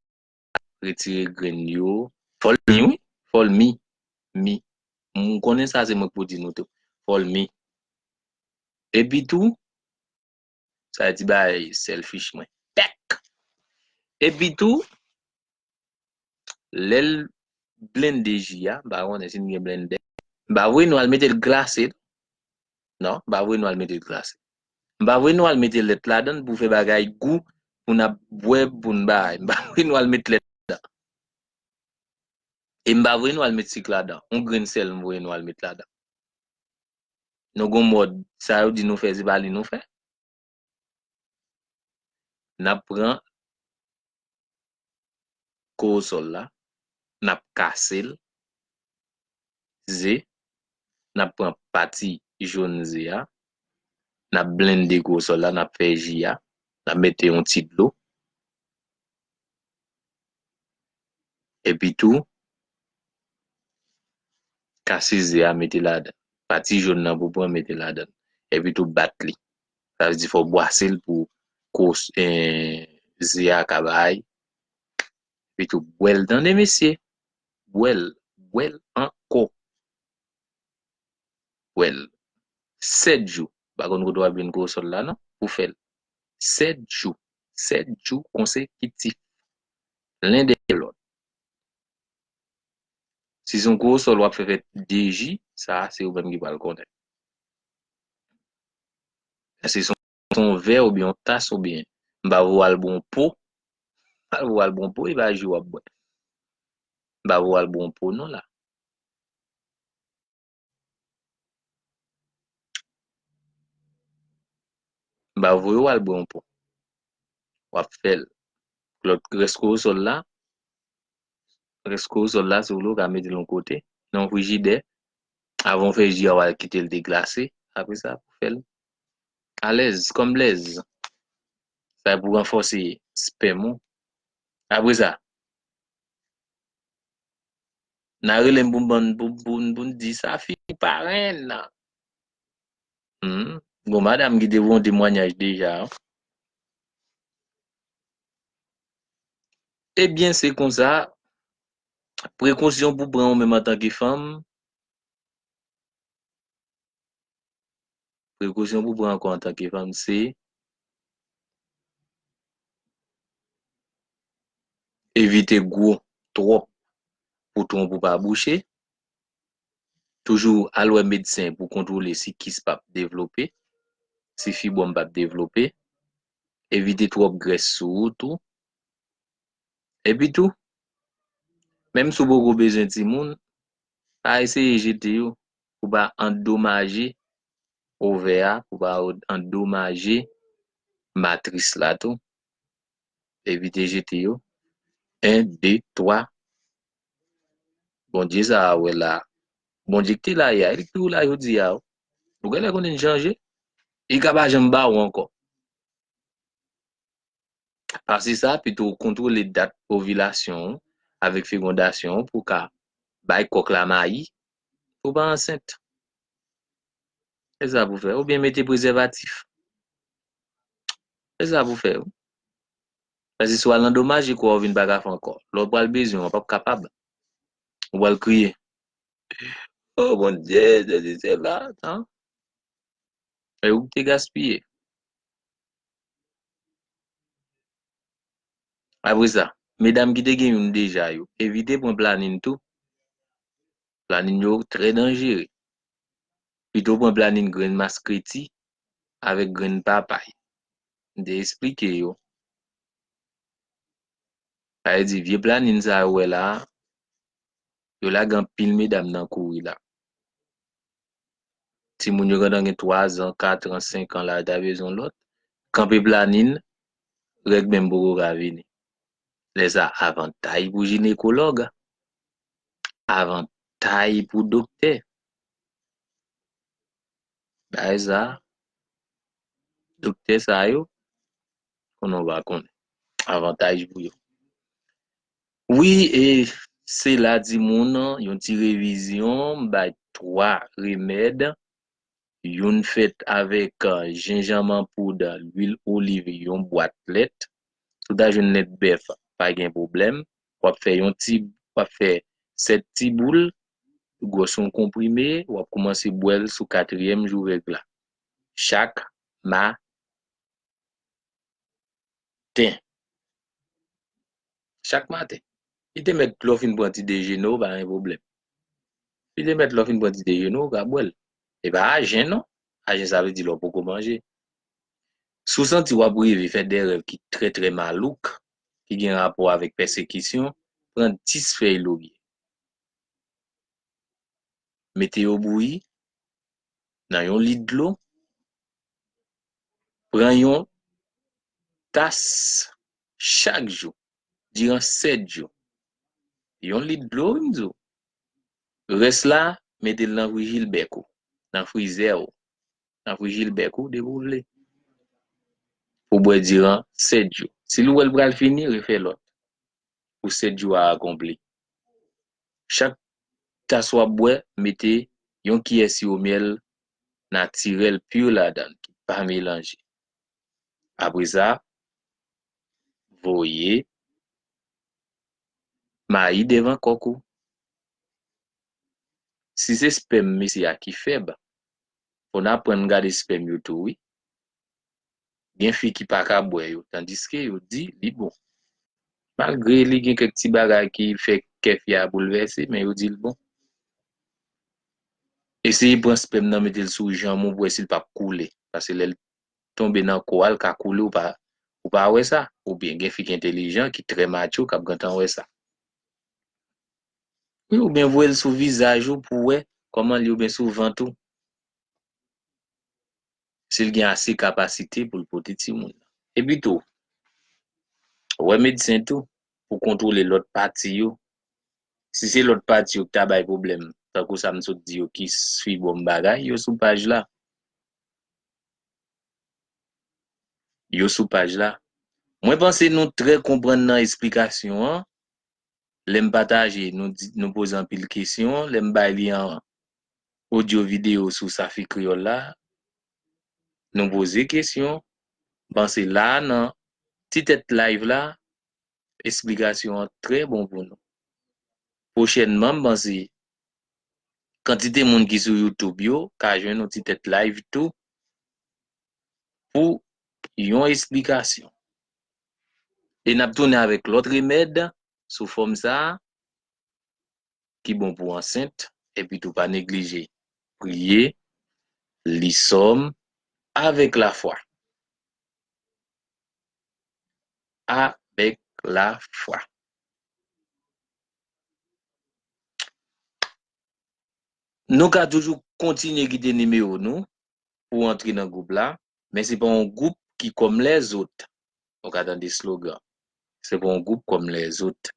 retire grenn yo. Fòl mi wi fòl mi mi m konnen sa se mwen k pou di nou tou fòl mi epi tou sa e ti bagay selfish mwen pèk epi tou lè l blende ji a m pa konnen si n gen blendè m pa vwe nou al mete l glase Non, m pa vwe nou al mete l glase. M pa vwe nou al mete lèt ladan l pou fè bagay gou pou n ap bwè pou n bay. M pa vwe nou al met lèt ladan. E m pa vwe nou al met sik ladan. Yon grenn sèl m vwe nou al met ladan. Nou gen yon mòd, sa yo di nou fè se pa li nou fè. N ap pran kowosòl la, n ap kase l, ze, n ap pran pati jòn ze a, n ap blende kowosòl la, n ap fè ji a, n ap mete yon ti dlo. Epi tou, kase ze a mete ladan l. Pati jòn nan pou w pran mete ladan l. Epi tou bat li. Sa vle di fò w bwase l pou kò ze a ka bay. Epitou bwè l tande mesye. Bwè l, bwè l ankò. Bwè l. 7 jou. M pa konn kote w ap jwenn kowosòl la non pou fè l. 7 jou. 7 jou konsekitif. Len dèyè lòt. Si se yon kowosòl w ap fè fè 2 ji, sa a se ou menm ki pral konnen. Eske se yon vè oubyen yon tas oubyen m pa vle w al bwè yon po, pa vle w al bwè yon po, e pa ji w ap bwè. M pa vle w al bwè yon po non la. M pa vle w al bwè yon po. W ap fè l. Lòt rès korosòl la, Rès korosòl la, si w vle, ou ka mete l yon kote nan yon frijidè. Avan w fè ji a, w al kite l deglase. Apre sa, ou fè l alèz, kòmblèz. Sa e pou ranfòse spèm ou. Apre sa, nan rele m pou m ban n, pou n di sa fini parenn! Gon madam ki te voun temwanyaj deja. Ebyen se konsa, prekosyon pou pran ou menm antanke fanm, prekosyon pou pran ankò antanke fanm se, evite gwo twòp pou twonp ou pa bouche, toujou al wè medsen pou kontwole si kis pap devlope, si fibwòm pap devlope. evite twòp grès sou ou tou. Epi tou, menm si w poko bezwen timoun, pa eseye jete yo pou w pa andomaje ovè a, pou w pa andomaje matris la tou. Evite jete yo, 1, 2, 3, Bondye sa a wè la. Bondye ki te la yè a, e li ki toujou la jodi a. Ou gen lè konnen li chanje. Li ka pa janm ba ou ankò. Pase sa, pito ou kontwole dat ovilasyon ou avèk fegondasyon ou pou ou ka bay kòk la mayi pou ou pa ansent. Se sa pou fè. Oubyen mete prezèvatif. Se sa pou fè. Paske si w al nan domaje kò a ou vin pa ka fè ankò. Lè w pral bezwen w ap ap kapab. Ou pral kriye. O Bondye sesi sela tan. E ou ki te gaspiye. Apre sa, medam ki te gen youn deja yo, evite pran planin tou. Planin yo trè danjere. Pito pran planin grenn maskreti avèk grenn papay. m te esplike yo. Sa vle di vye planin sa yo wè la a, yo lage anpil medam nan kouri la. Timoun yo gentan gen 3 zan, 4 an, 5 an la yo ta bezwen yon lòt. Kanpe planin, règ menm poko ka vini. Lè sa a avantay pou jinekològ, avantay pou doktè. Bagay sa a, doktè sa yo, konnen ou pa konnen. Avantaj pou yo. Wi, e se la di moun, yon ti revizyon, m bay 3 remèd, youn fèt avèk jenjanm an poud, lwil oliv, yon bwat lèt. Si w ta jwenn lèt bèf, pa gen pwoblèm. wap fè yon ti wap fè 7 ti boul gwòs yon konprime wap koumanse bwèl sou katriyèm jou règ la chak ma ten chak maten li te mèt lè w fin pran ti dejene w pa gen pwoblèm li te mèt lè w fin pran ti dejene w ou ka bwèl e pa ajen non ajen sa vle di lè w poko manje si w santi wap reve fè de rèv ki trè trè malouk ki gen rapò avèk pèsekisyon, pran dis fèy lorye, mete yo bouyi nan yon lit dlo, pran yon tas chak jou diran sèt jou, yon lit dlo wi m di w, rès la mete l nan frijilbèk ou, nan frizè ou, nan vijil bèk ou depi w vle. Pou bwè diran 7 jou. Si l wè l pral fini, refè lòt pou 7 jou a akonpli. Chak tas w ap bwè, mete yon kiyè siwo myèl natirèl pur ladan l ki pa melanje. Apre sa, voye mayi devan kòk ou. Si se spèm mesye a ki fèb, Fon aprann gade spèm yo tou wi. Gen fi ki paka bwè yo tandiske yo di li bon. Malgre li gen kèk ti bagay ki fè kè fi a boulvèse men yo dil bon. Eseye pran spèm nan metel sou janm ou pou wè sil pap koule pase lèl tonbe nan kouwa li ka koule ou pa ou pa wè sa oubyen gen fi ki entelijan ki trè macho kap gentan wè sa. Wi ou byen voyel sou vizaj ou pou wè koman li ou byen sou vant ou. Sil gen ase kapasite poul pote timoun. Epi tou wè medsen tou pou kontwole lot pati yo si se lot pati yo ki ta bay pwoblèm tankou sa m sot di yo kis fibwòm bagay yo sou paj la. Yo sou paj la. Mwen panse nou trè konprann nan esplikasyon an. lè m pataje nou poze anpil kesyon, lè m bay li an odyo videyo sou Safi Kreyòl la, nou poze kesyon, m panse la a nan ti tèt live la esplikasyon an trè bon pou nou. Pwochènman m panse kantite moun ki sou youtube yo ka jwenn yon ti tèt live tou pou yon esplikasyon. E n ap tounen avèk lòt remèd sou fòm sa a ki bon pou ansent. Epitou pa neglije priye, li sòm avèk lafwa. Avèk lafwa. Nou ka toujou kontinye kite nimewo nou pou antre nan gwoup la, men se pa yon gwoup ki kòm lèzot. Nou ka tande slogan, Se pa yon gwoup kòm lèzot.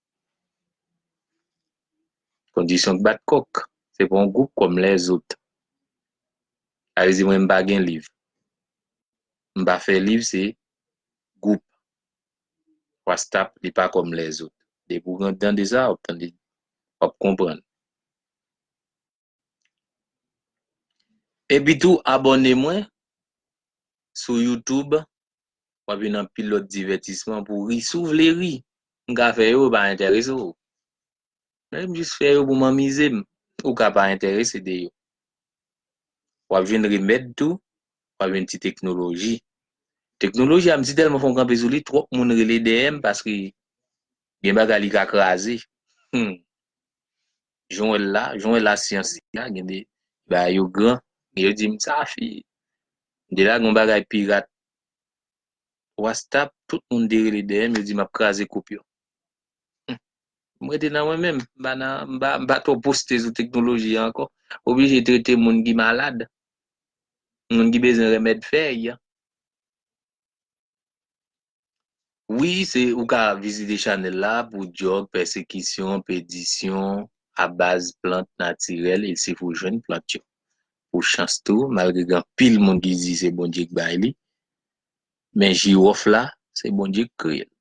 Kondisyon k bat kòk, Se pa yon gwoup kòm lèzot. Sa vle di mwen m pa gen liv. M pa fè liv se gwoup. Wastap li pa kòm lèzot. Depi w gen dan de sa, w ap tande, w ap konprann. Epi tou abòne mwen sou youtube wap jwenn anpil lòt divètisman pou ri si w vle ri m ka fè yo yo pa entèrese w men m jis fè yo pou m anmize m ou ka pa entèrese de yo wap jwenn remèd tou wap jwenn ti teknoloji teknoloji a m si tèlman fè m kanpe sou li twòp moun rele dèyè m paske gen bagay li ka kraze humm. jan wè l la, jan wè lasyans li la, gen de bagay yo gran, men yo di m sa fi, m di la gen yon bagay pirat wastap, tout moun te rele dèyè m, yo di m ap kraze koup yo. Hum! M rete nan mwen menm, m pa nan, m pa, m pa twò poste sou teknoloji an ankò. Oblije trete moun ki malad, moun ki bezwen renmèd fèy. Wi se ou ka vizite chanèl la pou dyòg, pèsekisyon, pedisyon a baz plant natirèl e si pou jwenn plant yo. Pou chans tou, malgre gen anpil moun ki di se Bondye k bay li, men jiwòf la se Bondye k kreye l.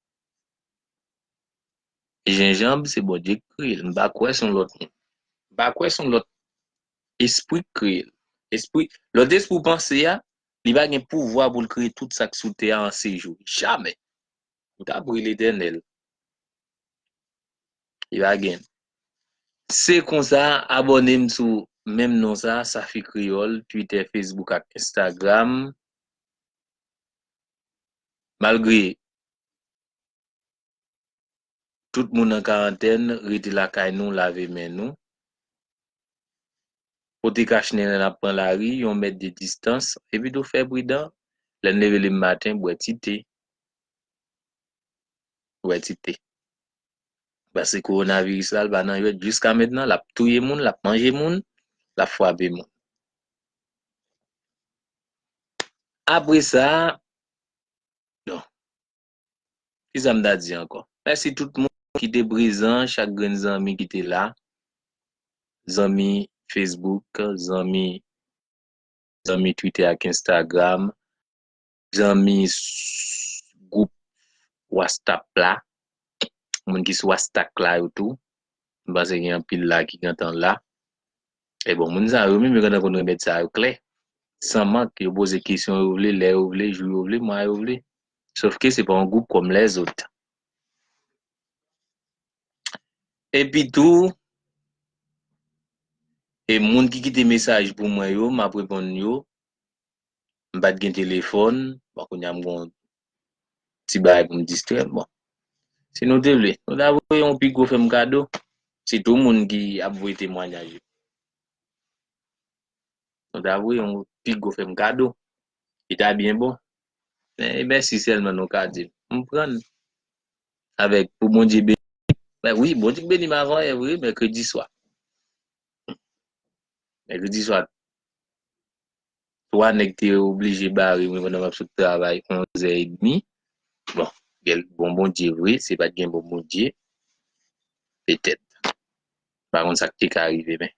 Jenjanb se Bondye k kreye l, m pa kwè son lòt moun. M pa kwè son lòt espri k kreye l. Espri, lòt espri w panse a, Li pa gen pouvwa pou l kreye tout sa k sou tè a an se jou. Jamè! Ou ta pri Letènèl. Li pa gen. Se konsa, abòne m sou menm non sa, Safi Kreyòl, Twitè, Fesbouk ak Enstagram. Malgre. Tout moun an karantèn rete lakay nou lave men nou. Pote kach nen lè nap pran lari, yon mèt de distans, epitou fè pridan, lèn leve le maten bwè ti te, bwè ti te. Pase kowonaviris la l pa nan jwèt jiska mentnan lap touye moun, lap manje moun, lap fwape moun. Apresa, bon. Kisa m ta di ankò? Mèsi tout moun ki te prezan, chak grenn zanmi ki te la, zanmi Facebook, zanmi zanmi Twitter ak Instagram, zanmi gwoup wastap la, moun ki sou astak la yo tou, m panse gen anpil la ki gentan la. E bon, moun sa yo menm yo gentan konn remèd sa yo klè, san mank, yo poze kesyon yo vle, lè yo vle, jou yo vle, mwa yo vle. Sof ke se pa yon gwoup kòm lèzot. Epi tou, e moun ki kite mesaj pou mwen yo, m ap reponn yo, m pa t gen telefòn, bon kounye a m gen yon ti bagay pou m distrè m. Bon, si nou te vle, nou ta voye yon pi gwo fè m kado, sitou moun ki ap voye temwanyaj yo. Nou ta voye yon pi gwo fè m kado, li ta byen bon. Men, e mèsi sèlman nou ka di m. M pran l avèk pou Bondye beni m. Men wi, Bondye beni m avanyè vre, mèkredi swa. Mèkredi swa. 3 nèg te oblije bare mwen pandan map sot travay 11 zè edmi bon gen bon Bondye vre si pat gen bon Bondye petèt pa konn sak te ka rive men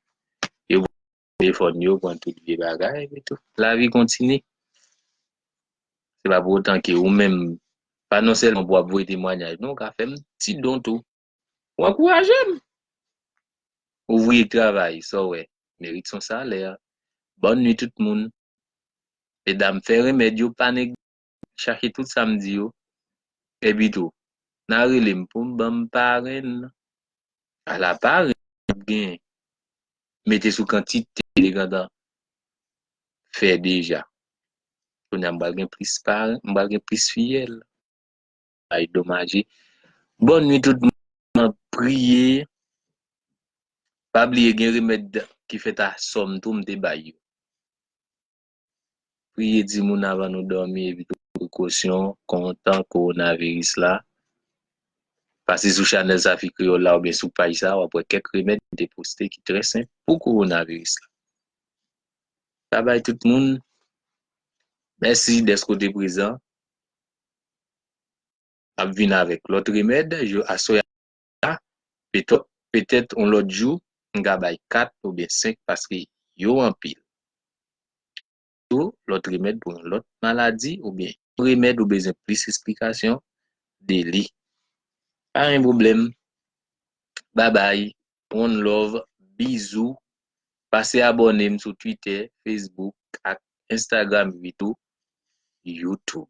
yo pran telefòn yo pran tout vye bagay epi tou lavi kontinye se pa pou otan ke ou menm pa non sèlman pou wap voye temwanyaj men ou ka fè yon ti don tou. Ou ankouraje m! Ouvriye k travay, sa w wè, merit son salè. Bòn nwi tout moun. Medam, fè renmèd yo, pa neg. Chache tout sa m di yo. Epitou, nan rele m pou m ban m parenn. Ala parenn w ap gen! Mete sou kantite de gantan fè deja. Kounye a m pral gen plis parenn, m pral gen plis fiyèl. bay domaje bonne nuit tout moun nan priye pa bliye gen remèd ki fèt a sòm tou mte bay yo priye di moun avan nou dòmi epi tout prekosyon kontan kowonaviris la pase sou chanèl zafi kreyòl la oubyen sou paj sa wap wè kèk remèd mte poste ki trè senp pou kowonaviris la babay tout moun mèsi dèske w te prezan. ap vin avèk lòt remèd jou aswè a la petèt petèt on lòt jou m ka bay 4 oubyen 5 paske yo anpil tou lòt remèd pou yon lòt maladi oubyen yon remèd ou bezwen plis esplikasyon de li pa gen pwoblèm babay. one love bizou pase abòne m sou twitter facebook ak instagram ui tou youtube.